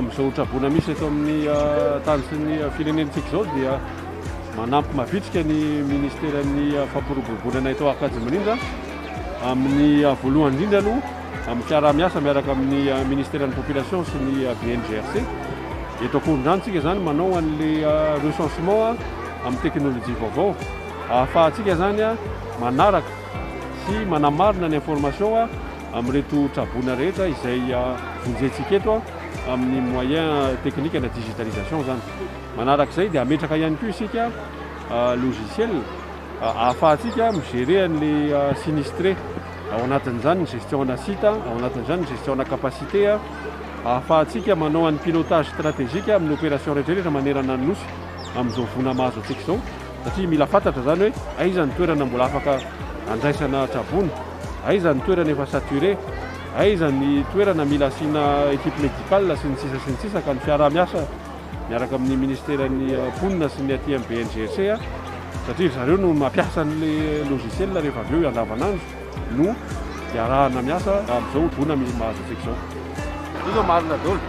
amin'izao hotraboana misy eto amin'ny ah, tany sy ny ah, firenentsika izao dia manampy mavitrika ny ministeran'ny ah, fampiroboroboana eto Ankadimilindra amin'ny voalohany indrindra aloha Amin'ny fiaraha-miasa miaraka amin'ny Ministeran'ny Population sy ny BNGRC, eto Ankorondrano tsika izany manao an'ilay recensement amin'ny teknolojia vaovao ahafahantsika izany manaraka sy manamarina ny information amin'ireto tra-boina rehetra izay vonjentsika eto amin'ny moyen technique na digitalisation izany. Manaraka izay dia hametraka ihany koa isika logiciel ahafahantsika mi-gérer an'ilay sinistre. Ao anatin'izany ny gestion-na site, ao anatin'izany ny gestion-na capacité, ahafahantsika manao an'ny pilotage stratégique amin'ny opération rehetrarehetra manerana ny Nosy amin'izao voana mahazo antsika izao satria mila fantatra izany hoe aiza ny toerana mbola afaka andraisana tsabony, aiza ny toerana efa saturé, aiza ny toerana mila asiana équipe médicale sy ny sisa sy ny sisa ka ny fiaraha-miasa miaraka amin'ny Ministeran'ny Mponina sy ny aty amin'ny BNGRC satria ry zareo no mampiasa an'ilay logiciel rehefa avy eo andavanandro no iarahana miasa amin'izao voana misy mahazo antsika izao. Io izao marina daholo.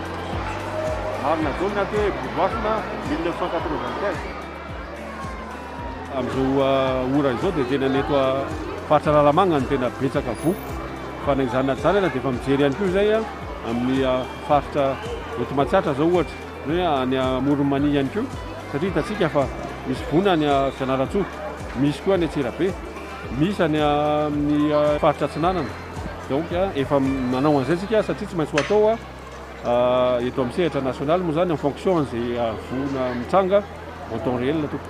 Marina daholo ny antso hoe Boloasina 1995. Amin'izao ora izao dia tena ny eto faritra Analamanga no tena betsaka voa. Fa na izany na tsy izany ary dia efa mijery ihany koa izay amin'ny faritra eto Matsiatra zao ohatra hoe any Amoron'i Mania ihany koa satria hitantsika fa misy voina any Fianarantsoa, misy koa any Antsirabe, misy any amin'ny faritra Atsinanana. Donc efa manao an'izay tsika satria tsy maintsy ho atao eto amin'ny sehatra nasionaly moa zany en fonction an'izay voina mitranga en temps réel tompoko.